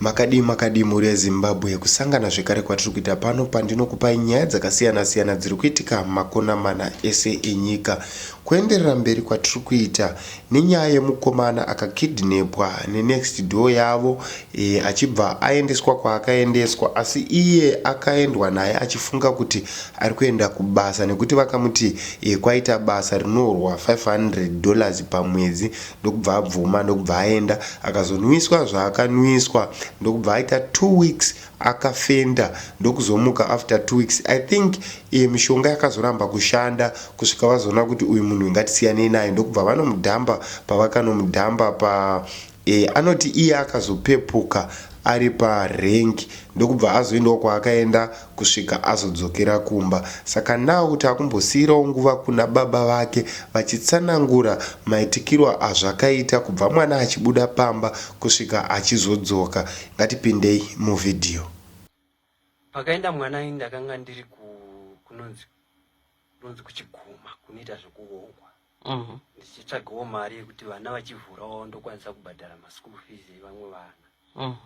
Makadii makadii mhuri yeZimbabwe, kusangana zvekare kwatiri kuita pano pandinokupai nyaya dzakasiyana siyana dziri kuitika makona mana ese enyika. Kuenderera mberi kwatiri kuita nenyaya yemukomana akakidnepwa nenext door yavo e, achibva aendeswa kwaakaendeswa asi iye akaendwa naye achifunga kuti ari kuenda kubasa nekuti vakamuti e, kwaita basa rinorwa 500 dollars pamwedzi ndokubva abvuma ndokubva aenda akazonwiswa zvaakanwiswa ndokubva aita two weeks akafenda ndokuzomuka after two weeks i think iye mishonga yakazoramba kushanda kusvika vazoona kuti uyu munhu ingatisiyanei naye ndokubva vanomudhamba pavakanomudhamba pa e, anoti iye akazopepuka ari pa rank ndokubva azoendawo kwaakaenda kusvika azodzokera kumba saka now taakumbosiirawo nguva kuna baba vake vachitsanangura maitikiro azvakaita kubva mwana achibuda pamba kusvika achizodzoka ngatipindei mu video Pakaenda mwana ini ndakanga ndiri kunonzi kunonzi kuchiguma kunoita zvekuongwa mhm. ndichitsvagawo mari yekuti vana vachivhurawo ndokwanisa kubhadhara maschool fees evamwe vana mhm.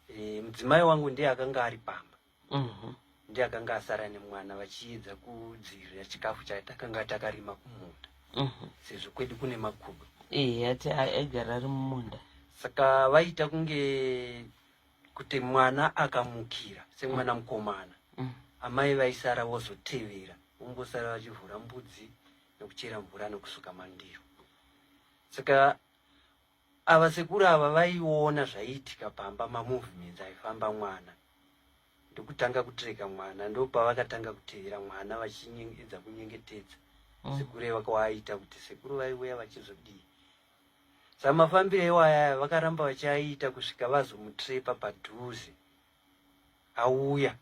eh, mudzimai wangu ndiye akanga ari pamba mhm. ndiye akanga asara nemwana vachiedza kudzivirira chikafu chatakanga takarima kumunda sezvo kwedu kune makudo eh, aigara ari mumunda saka vaita kunge kuti mwana akamukira semwana mukomana mm. amai vaisara vozotevera vongosara vachivhura mbudzi nekuchera mvura nekusuka mandiro saka ava sekuru ava vaiona zvaiitika pamba mamovements aifamba mwana ndokutanga kutireka mwana ndopavakatanga kutevera mwana vachiedza kunyengetedza mm. sekuru ivakawaaita kuti sekuru vaiuya vachizodii samafambiro iwaya vakaramba vachiaita kusvika vazomutrepa padhuze auya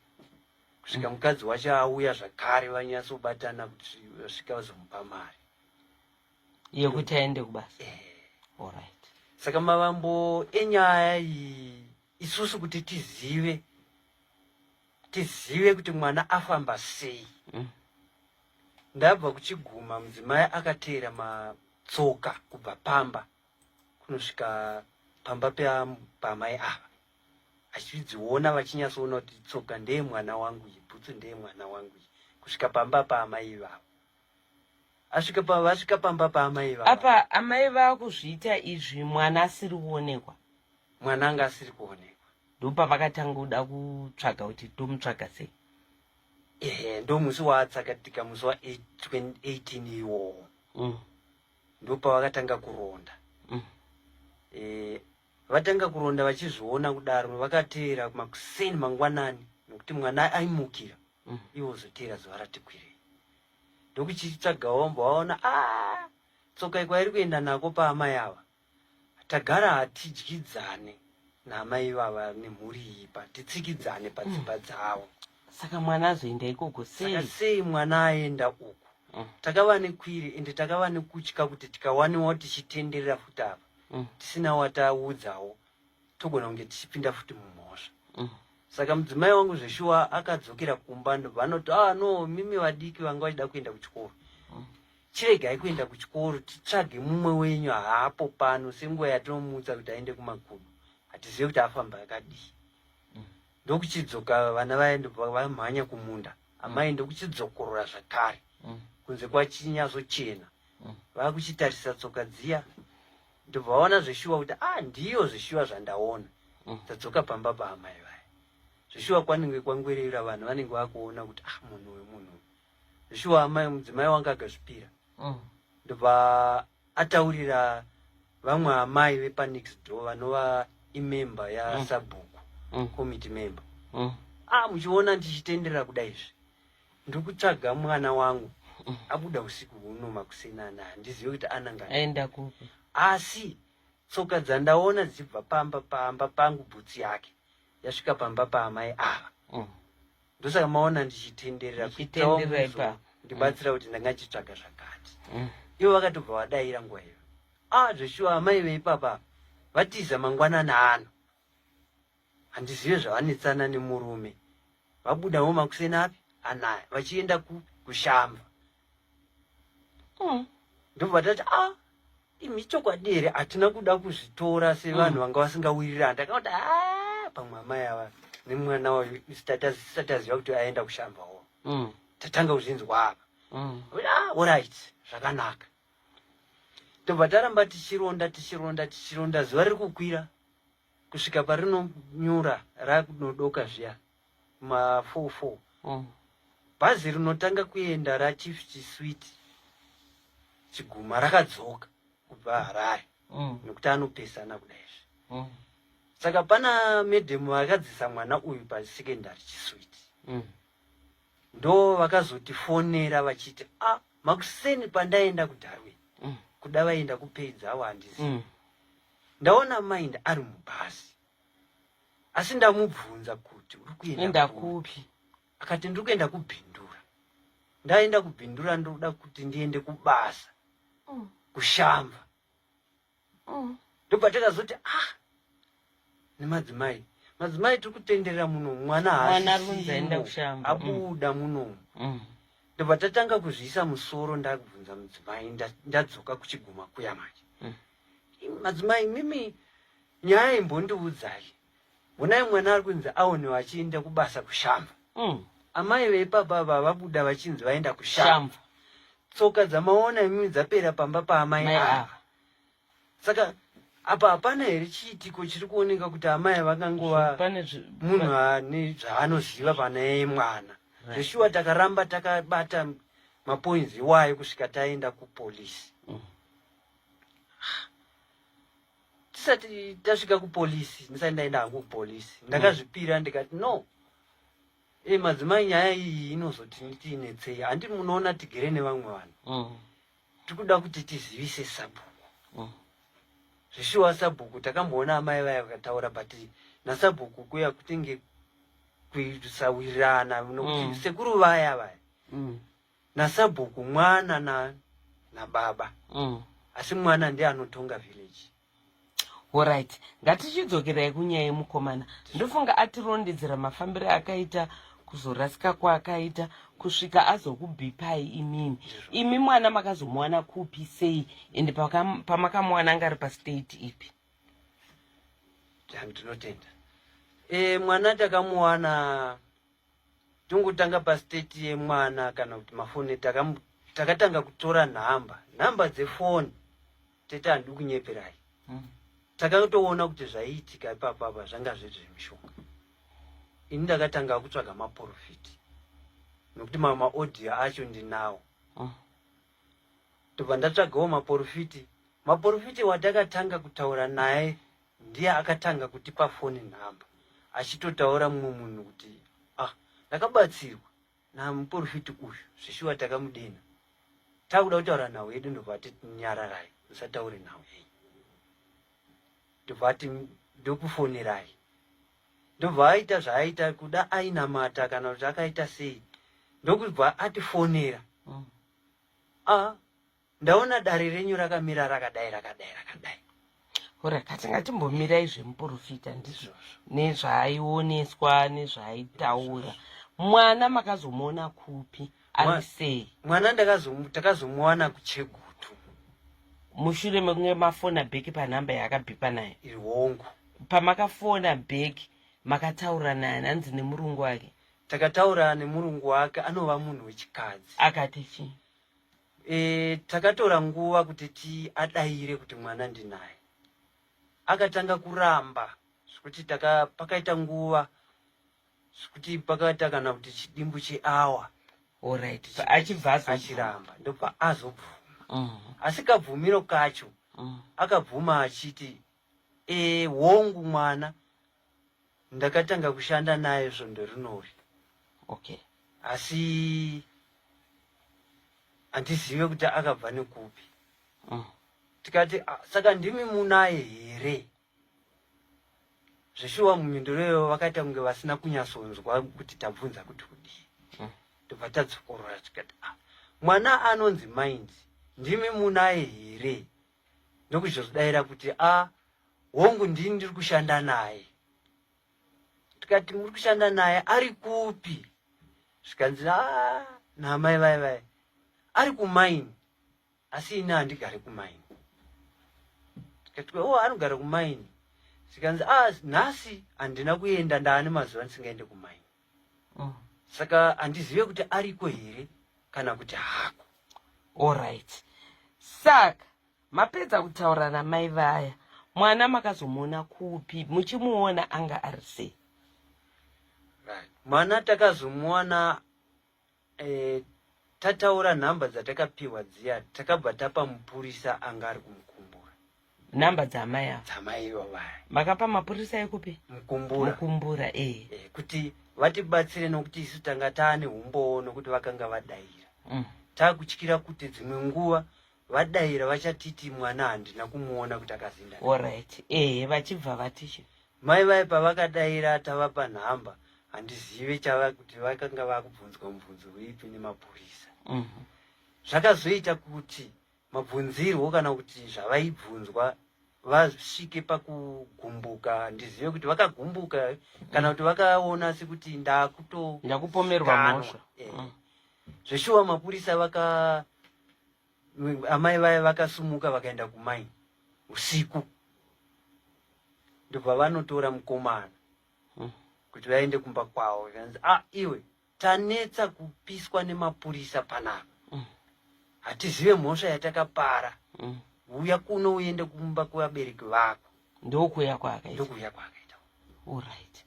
kusvika mm. mukadzi wacho auya zvakare vanyatsobatana kuti vasvika vazomupa mari yekuti aende kubasa eh. allright saka mavambo enyaya iyi isusu kuti tizive tizive kuti mwana afamba sei mm. ndabva kuchiguma mudzimai akateera matsoka kubva pamba kunosvika pamba pamai ava achidziona vachinyatsoona kuti tsoka ndeye mwana wangu iyi bhutsu ndeye mwana wangu iyi kusvika pamba paamai ivavo asvika pa vasvika pamba paamai ivavo apa amai vakuzviita izvi mwana asiri kuonekwa mwana anga asiri kuonekwa ndopavakatanga kuda kutsvaga kuti tomutsvaga sei ehe ndo musi waatsakatika musi wa 18 iwowo mm. ndopavakatanga kuronda mm. e, vatanga kuronda vachizviona kudaro vakateera makuseni mangwanani nokuti mwana aimukira mm. iwo zoteera zuva rati kwirei ndokuchitsvaga wombo waona a ah, tsoka ikwairi kuenda nako paamai ava tagara hatidyidzane naamai vava nemhuri iyi pa titsikidzane padzimba mm. dzavo saka mwana azoenda ikoko saka sei mwana aenda uku mm. takava nekwiri ende takava nekutya kuti tikawaniwawo tichitenderera futi apa tisina wataudzawo togona kunge tichipinda futi mumhosva mm. saka mudzimai wangu zveshuwa akadzokera kumba ndobva anoti ah no mimi vadiki vanga vachida kuenda kuchikoro mm. chiregai kuenda kuchikoro titsvage mumwe wenyu haapo pano senguva yatinomuudza kuti aende kumagumo hatizive kuti afamba akadii mm. ndokuchidzoka vana vaye ndobva vamhanya kumunda amai mm. ndokuchidzokorora zvakare mm. kunze kwachinyatsochena mm. vakuchitarisa tsoka dziya ndobva vaona zveshuwa kuti ah ndiyo zveshuwa zvandaona mm. tadzoka pamba paamai vaya zveshuwa kwanenge kwangwerera vanhu vanenge vakuona kuti ah munhu wemunhu zveshuwa amai mudzimai wanga akazvipira mm. ndobva ataurira vamwe amai vepanext door vanova imemba yasabhuku mm. committee member ah muchiona ndichitendera kudaizvi ndikutsvaga mwana wangu mm. abuda usiku huno makuseni ana handizive kuti ananga aenda kupi asi tsoka dzandaona dzichibva pamba pamba pangu bhutsi yake yasvika pamba paamai ava mm. ndosaka maona ndichitenderera kuitaipa ndibatsira kuti ndanga ndichitsvaga zvakati mm. ivo vakatobva vadaira nguva iyo a ah, zveshuwa amai veipapa vatiza mangwanana ano handizive zvavanetsana nemurume vabudavo makuseni api anaya vachienda kushamba mm. ndobva tati a ah, imi chokwadi here hatina kuda kuzvitora sevanhu mm. vanga vasingawirirana ndakava kuti a ah, pamwe amai ava nemwana wayo isataziva kuti aenda kushamba wo mm. tatanga kuzvinzwa apa mm. ah, orit zvakanaka tobva taramba tichironda tichironda tichironda zuva riri kukwira kusvika parinonyura rakunodoka zviya ma four four mm. bhazi rinotanga kuenda rachief chisweet chiguma rakadzoka kubva harare mm. nekuti anopesana kudaizvi mm. saka pana medhemu vakadzisa mwana uyu pasecondary chisweet mm. ndo vakazotifonera vachiti a ah, makuseni pandaenda kudarwin mm. kuda vaenda kupedza awo handizi mm. ndaona mind ari mubhazi asi ndamubvunza kuti uri kuenda kupi akati ndiri kuenda kubhindura ndaenda kubhindura ndoda kuti ndiende kubasa mm. kushamba mm. ndobva takazoti ah nemadzimai madzimai tiri kutenderera muno mwana haabuda mm. munomu mm. ndobva tatanga kuzviisa musoro ndabvunza mudzimai ndadzoka kuchiguma kuya manje Madzimai mimi nyaya imbondiudzai. Honai mwana ari kunzi aonewa achienda kubasa kushamva. Mm. Amai veipapa vavabuda vachinzi vaenda kushamva. Tsoka dzamaona imimi dzapera pamba paamai ava. Saka apa hapana here chiitiko chiri kuoneka kuti amai vakangova munhu ane zvaanoziva pana yeye mwana. Zveshuwa takaramba takabata mapoinzi iwayo kusvika taenda kupolisi. Mm. tisati tasvika kupolisi ndisati ndaenda hangu kupolisi mm. ndakazvipira ndikati no e madzimai nyaya iyi inozoti tiinetsei handi munoona tigere nevamwe vanhu mm. tikuda kuti tizivise sabhuku mm. zvishuwa sabhuku takamboona amai vaya vakataura but nasabhuku kuya kutenge kusawirirana nokuti mm. sekuru vaya vaya mm. nasabhuku mwana na nababa mm. asi mwana ndiye anotonga village orit ngatichidzokerai kunyaya yemukomana ndofunga atirondedzera mafambiro akaita kuzorasika kwaakaita kusvika azokubipai imimi imi mwana makazomuwana kupi sei ende pamakamuwana anga ari pastate ipi tinotenda e, mwana takamuwana tongotanga pastate yemwana kana kuti mafoni takatanga kutora nhamba nhamba dzefoni tete handii kunyeperai mm. takatoona kuti zvaiitika ipapapa zvanga zviri zvemushonga ini ndakatanga kutsvaga maprofiti nokuti mamwe maaudio acho ndinawo mm. tobva ndatsvagawo maprofiti maprofiti watakatanga kutaura naye ndiye akatanga kutipa foni nhamba achitotaura mumwe munhu kuti ah ndakabatsirwa namuporofiti uyu zvishuwa takamudena takuda kutaura nhau yedu ndobva ati nyararai musataure nhau yeyi ndobva ati ndokufonerai ndobva aita zvaaita kuda ainamata kana kuti akaita sei ndokubva atifonera mm. a ah, Ndaona dare renyu rakamira rakadai rakadai rakadai. Ora katinga timbomirai zvemuporofita ndizvozvo nezvaaioneswa nezvaaitaura mwana makazomuona kupi ari sei mwana takazomuwana kuchegutu mushure mekunge mafona bheki panhamba yaakabhipa naye iri hongu pamakafona bheki makataura naye hanzi nemurungu wake takataura nemurungu wake anova munhu wechikadzi akati chii E, takatora nguva kuti tiadaire kuti mwana ndinaye. Akatanga kuramba zvekuti taka pakaita nguva zvekuti pakaita kana kuti chidimbu cheawa Alright. achibva achiramba ndopaazobvuma mm. asikabvumiro kacho mm. akabvuma achiti e, hongu mwana ndakatanga kushanda naye svondo rinori okay asi handizive kuti akabva nekupi mm. tikati ah, saka ndimi munaye here zveshuwa mumhinduro iyoyo vakaita kunge vasina kunyasonzwa kuti tabvunza kuti kudii mm. tobva mm. tadzokorora tikati ah, mwana anonzi mind ndimi munaye here ndokuzodaira kuti a ah, hongu ndini ndiri kushanda naye tikati muri kushanda naye ari kupi zvikanzi a ah, naamai vai vai ari kumaini asi ini handigare kumaini tikati o oh, anogara kumaini zvikanzi a ah, nhasi handina kuenda ndaane mazuva ndisingaende kumaini mm. saka handizive kuti ariko here kana kuti hako allright saka mapedza kutaura namai vaya mwana makazomuona kupi muchimuona anga ari sei right. mwana takazomuona eh, tataura nhamba dzatakapihwa dziya takabva tapa mupurisa anga ari kumukumbura nhamba dzamai ava dzamai vavaya makapa mapurisa ekupi mukumbura mukumbura eh. eh kuti vatibatsire nokuti isu tanga taane umbowo nokuti vakanga vadaira mm. takutyira kuti dzimwe nguva vadaira vachatiti mwana handina kumuona kuti akazinda orit ehe vachibva vatichi mai vaye pavakadaira tavapa nhamba handizive chava kuti vakanga vakubvunzwa mubvunzo weipi nemapurisa mhm. zvakazoita kuti mabvunzirwo kana kuti zvavaibvunzwa vasvike pakugumbuka handizive kuti vakagumbuka kana kuti vakaona sekuti ndakuto ndakupomerwa mhosva eh. mm. zveshuwa mapurisa vaka amai vaya vakasumuka vakaenda kumai usiku ndobva vanotora mukomana hmm. kuti vaende kumba kwavo zvanzi a ah, iwe tanetsa kupiswa nemapurisa panapa hmm. hatizive mhosva yatakapara hmm. uya kuno uende kumba kwevabereki vako ndokuya kwaakaitakuya kwaakaita orit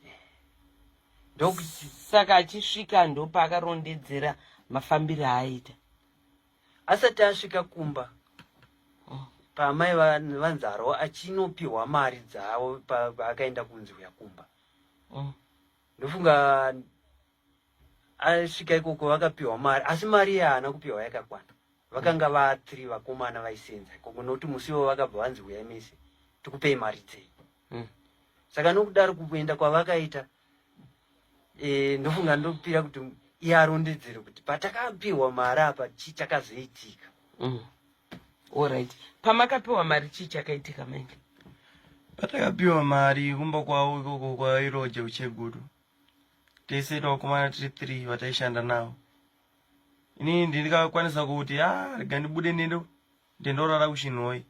saka achisvika ndopakarondedzera mafambiro aaita asati asvika kumba paamai vanzarwo achinopihwa mari dzavo paakaenda kunzi uya kumba mm. ndofunga asvika ikoko vakapihwa mari asi mari iya haana kupihwa yakakwana vakanga va three vakomana vaisenza ikoko nokuti musi ivo vakabva vanzi huyai mese tikupei mari dzei mm. saka nokudaro kuenda kwavakaita eh, ndofunga ndopira kuti iye arondedzere kuti patakapiwa mari apa chii chakazoitika mm. allright pamakapiwa mari chii chakaitika mainge patakapiwa mari kumba kwavo ikoko kwairoja ucheguru tese tavakomana tiri three vataishanda navo inini ndindikakwanisa kuti a ah, rega ndibude nendo ndendorara kuchinhoi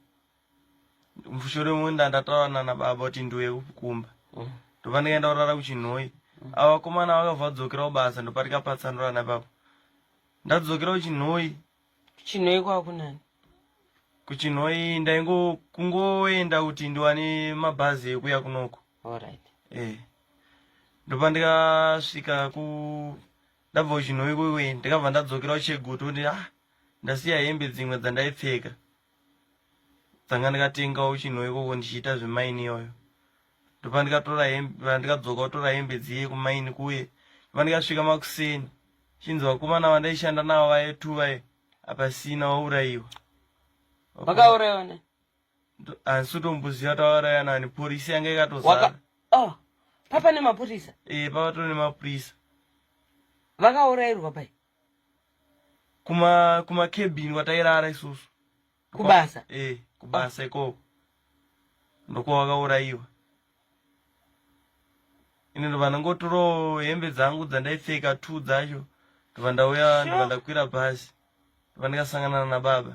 mushure munda ndataura nana baba kuti ndiuye kumba mm. ndobva ndikaenda kurara kuchinhoyi mm. ava vakomana vakabva vadzokera kubasa ndopatika patsanura napapo ndadzokera kuchinhoyi kuchinhoyi kwakunani kuchinhoyi ndaingo kungoenda kuti ndiwane mabhazi ekuya kunoko alright eh ndopa ndikasvika ku ndabva kuchinhoyi kuwe ndikabva ndadzokera kuchegutu kuti ah ndasiya hembe dzimwe dzandaipfeka ndanga ndikatengawo chinhu ikoko ndichiita zvemaini iyoyo ndopandikatora ndikadzoka kutora hembe dziye kumaini kuye pandikasvika makuseni chinzi vakomana vandaishanda navo vaye two vaye apasina waurayiwa vakaurayiwa ne handisi kutomboziva tavauraya nani purisa yanga ikatozara oh, papa nemapurisa e eh, papa to nemapurisa vakaurairwa pai kuma kuma cabin kwatairara isusu kubasa eh kubasa ikoko ndokwa wakaurayiwa ini ndobva ndangotoro hembe dzangu dzandaipfeka two dzacho ndobva ndauya ndobva ndakwira bhazi ndobva ndikasangana nababa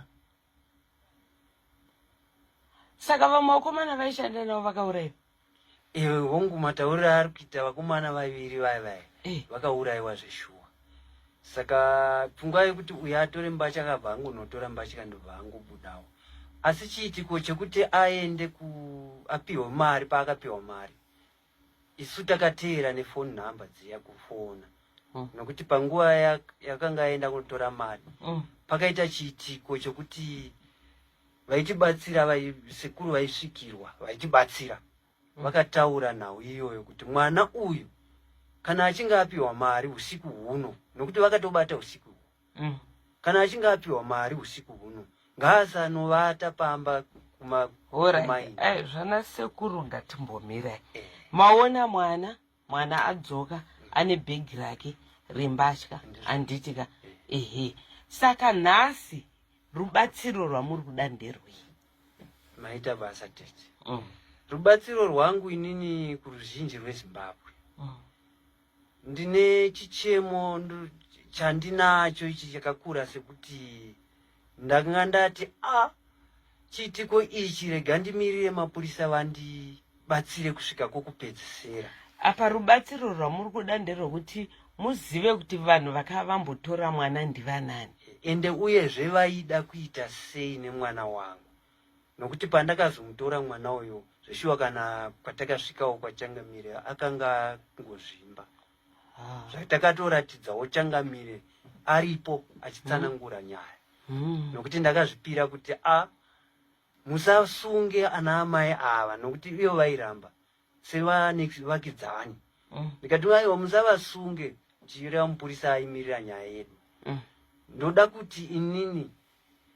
saka vamwe vakomana vaishanda navo vakauraiwa iwe hongu matauriro ari kuita vakomana vaviri vaya vaya eh. vakauraiwa zveshuwa saka pfungwa yekuti uyo atore mbatya akabva angonotora mbatya ndobva angobudawo asi chiitiko chekuti aende ku apiwe mari paakapiwa mari isu takateera nefoni nhamba dziya kufona mm. nokuti panguva yakanga aenda kunotora mari mm. pakaita chiitiko chokuti vaitibatsira sekuru vaisvikirwa vaitibatsira mm. vakataura nhau iyoyo kuti mwana uyu kana achinge apiwa mari usiku huno nokuti vakatobata usiku mm. kana achinge apiwa mari usiku huno ngaasanovata pamba kumai eh, zvana sekuru ngatimbomirai eh. maona mwana mwana adzoka mm. ane bhegi rake rembatya anditika eh. ehe saka nhasi rubatsiro rwamuri kuda nderwei maita basa tete mm. rubatsiro rwangu inini kuruzhinji rwezimbabwe mm. Ndine chichemo chandinacho ichi chakakura sekuti ndakanga ndati a ah, chiitiko ichi rega ndimirire mapurisa vandibatsire kusvika kwokupedzisira. Apa rubatsiro rwamuri kuda nderwekuti muzive kuti vanhu vakava vambotora mwana ndivanani ende uyezve vaida kuita sei nemwana wangu nokuti pandakazomutora mwana uyo zveshuwa kana kwatakasvikawo kwachangamire akanga ngozvimba ah. zvatakatoratidzawo changamire aripo achitsanangura hmm. nyaya hmm. nokuti ndakazvipira kuti a musasunge ana amai ava nokuti iyo vairamba sevanevakidzani mm. ndikati aiwa musavasunge chireva mupurisa aimirira nyaya yedu mm. ndoda kuti inini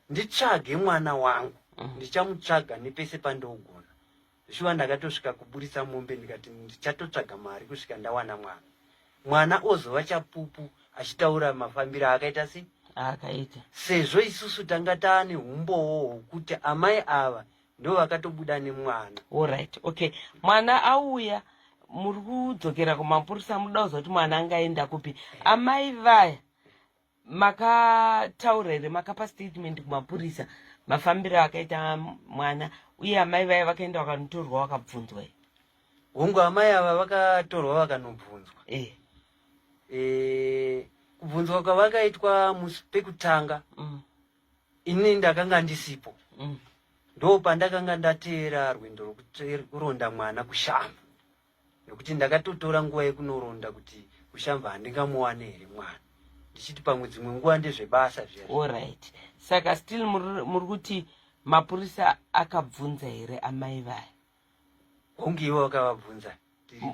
nditsvage mwana wangu mm. ndichamutsvaga nepese pandogona zvishuva ndakatosvika kuburitsa mombe ndikati ndichatotsvaga mari kusvika ndawana mwana mwana ozova chapupu achitaura mafambiro aakaita sei aakaita sezvo isusu tanga taane umbowo hwokuti amai ava ndo vakatobuda nemwana orit okay mwana auya muri kudzokera kumapurisa muda kuziva kuti mwana anga aenda kupi amai vaya makataura here makapa statement kumapurisa mafambiro akaita mwana uye amai vaya vakaenda vakanotorwa vakabvunzwa here hongu amai ava vakatorwa vakanobvunzwa eh. eh, kubvunzwa kwavakaitwa musi pekutanga mm. ini ndakanga ndisipo mm. ndo pandakanga ndateera rwendo rwekuronda mwana kushamva nekuti ndakatotora nguva yekunoronda kuti kushamva handingamuwane here mwana ndichiti pamwe dzimwe nguva ndezvebasa zviya allright saka still muri kuti mapurisa akabvunza here amai vaya hunge iwe wakavabvunza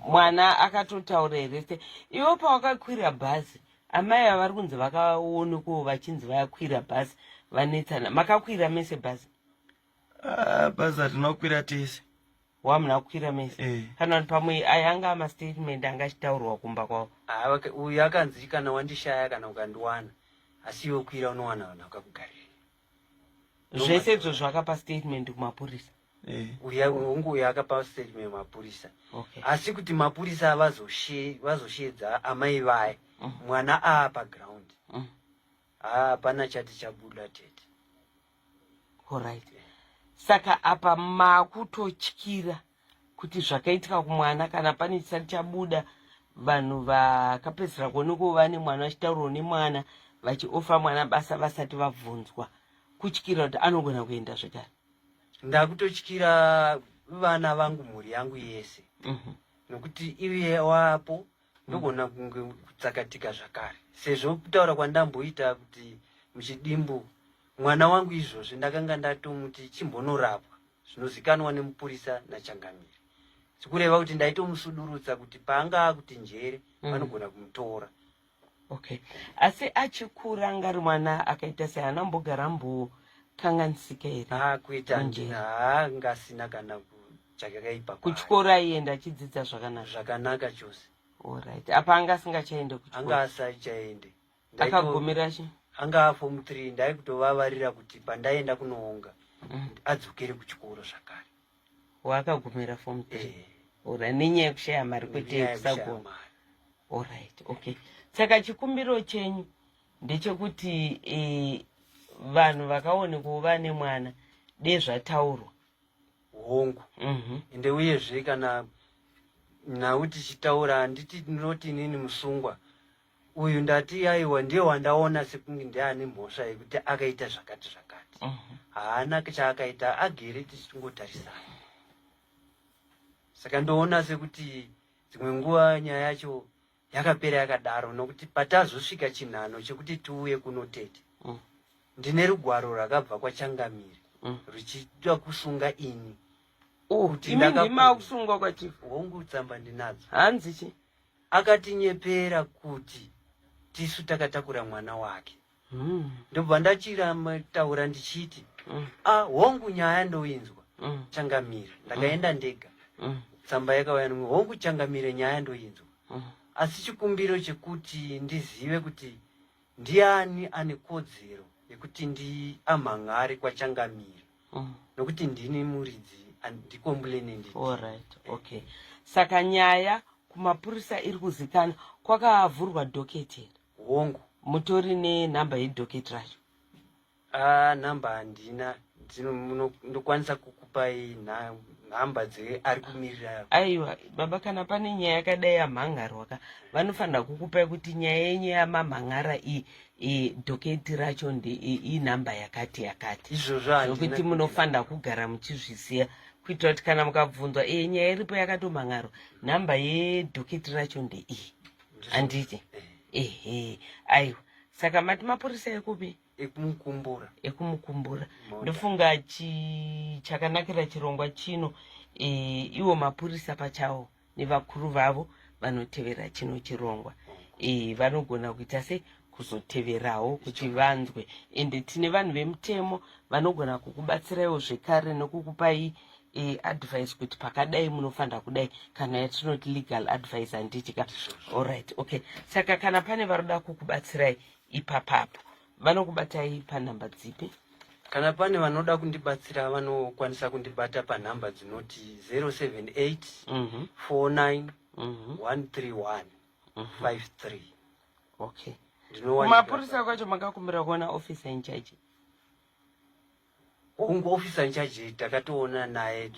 mwana akatotaura here se ivo pawakakwira bhazi amai ava vari kunzi vakaonekoo vachinzi vakwira bhazi vanetsana makakwira mese bhazi ah, bhazi atinokwira tese wamuna kukwira mese eh. kana kuti pamwe ayanga amastatement anga achitaurwa kumba kwavo ah, uyu akanzi kana wandishaya kana ukandiwana asi iwe kwira unowana vanhu vakakugarira zvese izvo zvakapa statement kumapurisa eh. uya hungu uya akapa statement kumapurisa asi kuti mapurisa vazosheedza amai vaye mm. mwana aa paground mm. hapana chati chabuda tete orit saka apa makutotyira kuti zvakaitika kumwana kana pane chisati chabuda vanhu vakapedzisira kuonekwa vane mwana vachitaurwa nemwana vachiofa mwana basa vasati vabvunzwa kutyira kuti anogona kuenda zvekare ndakutotyira vana vangu mhuri yangu yese mm -hmm. nokuti iye wapo ndokuona kunge kutsakatika zvakare sezvo kutaura kwandamboita kuti muchidimbu mwana wangu izvozvi ndakanga ndatomuti chimbonorapwa zvinozikanwa nemupurisa nachangamire sikureva kuti ndaitomusudurutsa kuti paanga akuti njere mm. vanogona kumutora okay asi achikura ngari mwana akaita sei ana mbogara mbokanganisika here ah, kuita njere haa ah, ngasina kana chake kaipa kuchikoro aienda achidzidza zvakanaka zvakanaka chose orit apa anga asingachaende kuanga asachaende akagumira chi anga afom three ndaikutovavarira kuti pandaenda kunoonga mm. adzokere kuchikoro zvakare waakagumira fom three eh. orit nenyaya yekushaya mari kwete yekusagona orit okay saka chikumbiro chenyu ndechekuti eh, vanhu vakaonekwa vane mwana dezvataurwa hongu mhm. ende mm -hmm. uyezve kana nhau tichitaura handiti ndinoti inini musungwa uyu ndati aiwa ndiye wandaona sekunge ndiane mhosva yekuti akaita zvakati zvakati mm -hmm. haana chaakaita agere tichingotarisana saka ndoona sekuti dzimwe nguva nyaya yacho yakapera yakadaro nokuti patazosvika chinhano chekuti tiuye kuno tete mm. ndine rugwaro rwakabva kwachangamire mm. ruchida kusunga ini oh, makusungwa kwachief hongu tsamba ndinadzo hanzi chi akatinyepera kuti tisu takatakura mwana wake mm. ndobva ndachirataura ndichiti mm. a ah, hongu nyaya ndoinzwa mm. changamire ndakaenda mm. ndega mm. tsamba yakauya nomwe hongu changamire nyaya ndoinzwa mm. asi chikumbiro chekuti ndizive kuti ndiani ane kodzero yekuti ndiamhan'ari kwachangamire mm. nokuti ndini muridzi andikombulenendii all right okay saka nyaya kumapurisa iri kuzikana kwakavhurwa doketi here hongu mutori nenumber yedhoketi racho a number handina ndokwanisa kukupai nhamba dzeari kumirira aiwa baba kana pane nyaya yakadai yamhangarwa ka vanofanira kukupai kuti nyaya yenyu yamamhan'ara iyi e, dhoketi racho inhamba yakati yakati izvozvokuti munofanira kugara muchizviziva kuitira kuti kana mukabvunzwa e nyaya iripo yakatomhan'arwa nhamba yedhoketi racho ndeiyi handiti ehe aiwa saka mati mapurisa ekupi ekumukumbura ekumukumbura ndofunga chi chakanakira chirongwa chino e, iwo mapurisa pachawo nevakuru vavo vanotevera chino chirongwa e, vanogona kuita sei kuzoteverawo kuti vanzwe ende tine vanhu vemutemo vanogona kukubatsiraiwo zvekare nekukupai e, advice kuti pakadai munofanira kudai kana yatinoti legal advice handitika allright okay saka kana pane varoda kukubatsirai ipapapo vanokubatai panhamba dzipi kana pane vanoda kundibatsira vanokwanisa kundibata panhamba dzinoti 078 49 131 53 okay kumapurisa kwacho makakumbira kuona officer in charge ungu officer in charge takatoona naye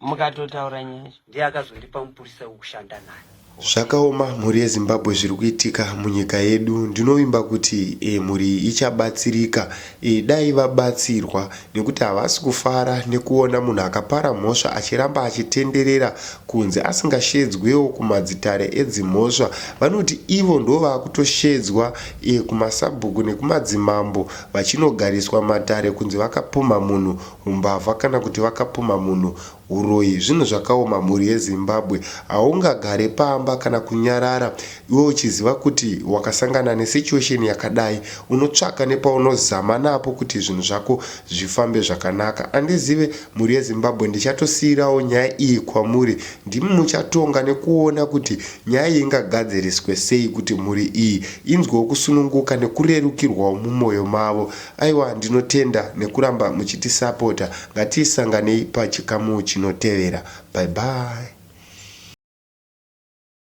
mukatotaura nyaya ndiye akazondipa mupurisa wekushanda naye zvakaoma mhuri yezimbabwe zviri kuitika munyika yedu ndinovimba kuti e, mhuri ichabatsirika Iyi dai vabatsirwa nekuti havasi kufara nekuona munhu akapara mhosva achiramba achitenderera kunze asingashedzwewo kumadzitare edzimhosva vanoti ivo ndovakutoshedzwa kumasabhuku nekumadzimambo vachinogariswa matare kunzi vakapumha munhu humbavha kana kuti vakapumha munhu Huroyi zvinhu zvakaoma mhuri yezimbabwe haungagare pamba kana kunyarara iwe uchiziva kuti wakasangana nesituation yakadai unotsvaka nepaunozama napo kuti zvinhu zvako zvifambe zvakanaka andizive mhuri yezimbabwe ndichatosiirawo nyaya iyi kwamuri ndimi muchatonga nekuona kuti nyaya iyi ingagadziriswe sei kuti mhuri iyi inzwewo kusununguka nekurerukirwawo mumoyo mavo Aiwa ndinotenda nekuramba muchitisapota ngatisanganei pachikamu chinotevera bye bye.